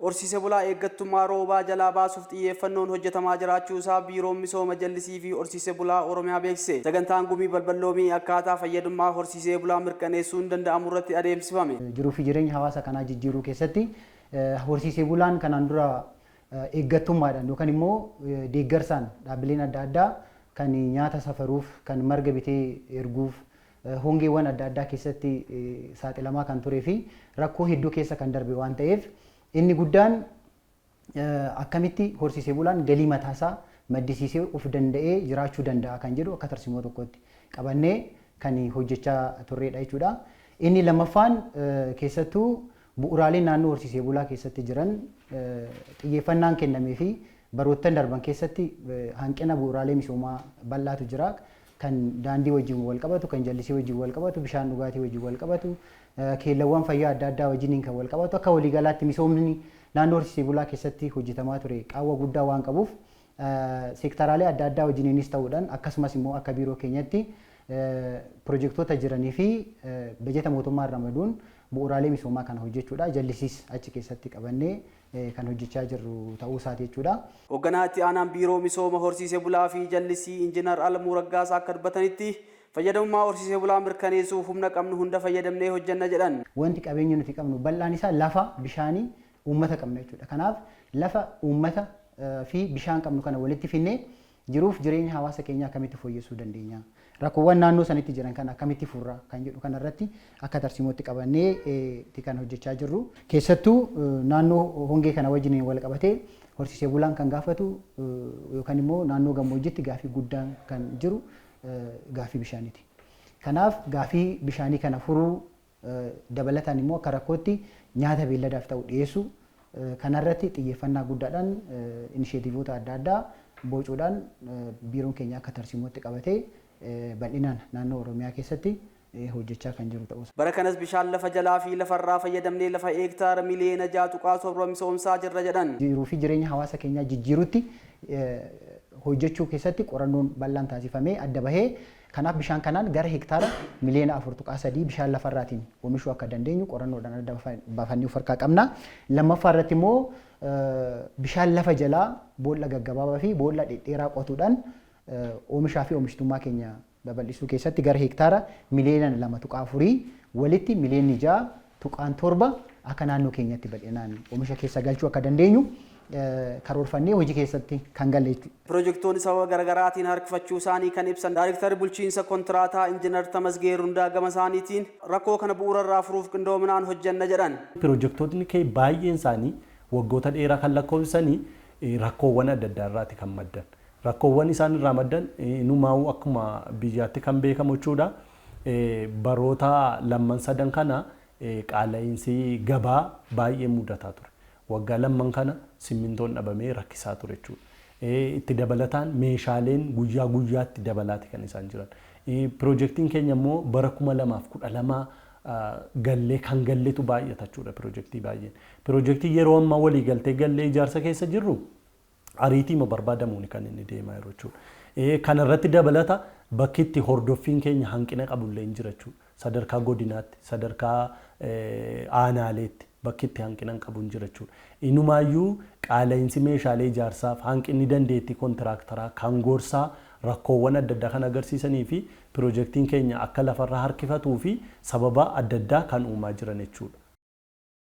Horsiise bulaa eeggattummaa roobaa jalaa baasuuf xiyyeeffannoon hojjetamaa jiraachuu isaa Biiroon Misooma Jallisii fi Horsiise Bulaa Oromiyaa beeksise. Sagantaan Gumii Balbal Loomii akkaataa fayyadummaa horsiisee bulaa mirkaneessuun danda'amu irratti adeemsifame. Jiruu fi jireenya hawaasa kanaa jijjiiruu keessatti horsiisee bulaan kanaan dura eeggattummaadhaan yookaan immoo deeggarsaan dhaabbileen adda addaa kan nyaata safaruuf, kan marga bitee erguuf, hongeewwan adda addaa keessatti saaxilamaa kan turee fi rakkoo hedduu keessa kan darbe waan ta'eef inni guddaan akkamitti horsiisee bulaan galii mataasaa maddisiisee of danda'ee jiraachuu danda'a kan jedhu akka tarsimoo tokkotti qabannee kan hojjechaa turreedha jechuudha. Inni lammaffaan keessattuu bu'uuraaleen naannoo horsiisee bulaa keessatti jiran xiyyeeffannaan kennamee fi baroottan darban keessatti hanqina bu'uuraalee misoomaa bal'aatu jira. kan daandii wajjin walqabatu, kan jallisii wajjin walqabatu, bishaan dhugaatii wajjin walqabatu, keellawwan fayyaa adda addaa wajjiniin kan walqabatu akka waliigalaatti misoomni naannoo horsiisee bulaa keessatti hojjetamaa ture qaawwa guddaa waan qabuuf seektaraalee adda addaa wajjiniinis ta'uudhaan akkasumas immoo akka biiroo keenyatti pirojektoota jiranii fi bajeta mootummaan ramaduun bu'uuraalee misoomaa kana hojjechuudha jallisiis achi keessatti qabannee kan hojjechaa jirru ta'uu isaati jechuudha. Hogganaa Itti Aanaan Biiroo Misooma Horsiise Bulaa fi Jallisii Injinar Alamuu Raggaasaa akka dubbatanitti, fayyadamummaa horsiise bulaa mirkaneessuuf humna qabnu hunda fayyadamnee hojjenna jedhan. Wanti qabeenya nuti qabnu bal'aan isaa lafa, bishaanii, uummata qabna jechuudha. Kanaaf lafa, uummata fi bishaan qabnu kana walitti fidnee Jiruuf jireenya hawaasa keenyaa akkamitti fooyyessuu dandeenya? Rakkoowwan naannoo sanitti jiran kana akkamitti furra? Kan jedhu kana irratti akka tarsiimootti qabannee ti kan hojjechaa jirru. Keessattuu naannoo hongee kana wajjiniin wal qabatee horsiisee bulaan kan gaafatu yookaan immoo naannoo gammoojjitti gaafii guddaan kan jiru gaafii bishaanii ti. Kanaaf gaafii bishaanii kana furuu Dabalataan immoo akka rakkootti nyaata beelladaaf ta'u dhiyeessuu kanarratti xiyyeeffannaa guddaadhaan inisheetiivoota adda addaa bocuudhaan biiroon keenya akka tarsiimootti qabatee bal'inaan naannoo Oromiyaa keessatti hojjechaa kan jiru ta'uu isaa. Bara kanas bishaan lafa jalaa fi lafarraa fayyadamnee lafa heektaara miliyeena 6.7 misoomsaa jirra jedhan. Jiruu fi jireenya hawaasa keenyaa jijjiiruutti hojjechuu keessatti qorannoon bal'aan taasifamee adda bahee Kanaaf bishaan kanaan gara hektaara miliyoona 4.3 bishaan lafarraatiin omishuu akka dandeenyu qorannoodhaan adda baafannee of harkaa qabna. Lammaffaa irratti immoo bishaan lafa jalaa boolla gaggabaabaa fi boolla dhedheeraa qotuudhaan oomishaa fi oomishtummaa keenya babal'isuu keessatti gara hektaara miliyoona 2.4 walitti miliyoonni 6 2.7 akka naannoo keenyatti bal'inaan omisha keessa galchuu akka dandeenyu karoorfannee hojii keessatti kan galle jechuudha. Pirojektoonni sababa garagaraatiin harkifachuusaanii kan ibsan Daarektarri Bulchiinsa Kontiraataa Injinar Tamasgee Rundaa gamasaaniitiin, rakkoo kana bu'uurarraa furuuf qindoominaan hojjenna jedhan. Pirojektootni keenya baay'eensaanii waggoota dheeraa kan lakkoofsisanii rakkoowwan adda addaarraati kan maddan. Rakkoowwan isaan irraa maddan inumaawuu akkuma biyyaatti kan beekamu jechuudha. baroota lamman sadan kana qaala'iinsi gabaa baay'een mudataa ture. Waggaa lamman kana simmintoon dhabamee rakkisaa ture jechuudha. Itti dabalataan meeshaaleen guyyaa guyyaatti dabalaati kan isaan jiran. Pirojektiin keenya immoo bara 2012 gallee kan galletu baay'ata jechuudha pirojektii baay'een. Pirojektii yeroo ammaa waliigaltee gallee ijaarsa keessa jirru ariitiima barbaadamuuni kan inni deemaa jiru jechuudha. Kana irratti dabalata bakki itti hordoffiin keenya hanqina qabu illeen jira jechuudha. Sadarkaa godinaatti, sadarkaa aanaaleetti bakki itti hanqinan qabu hin jira jechuudha. Inumaayyuu qaala'insi meeshaalee ijaarsaaf, hanqinni dandeettii kontiraaktaraa, kan gorsaa rakkoowwan adda addaa kan agarsiisanii fi pirojektiin keenya akka lafarra harkifatuu fi sababa adda addaa kan uumaa jiran jechuudha.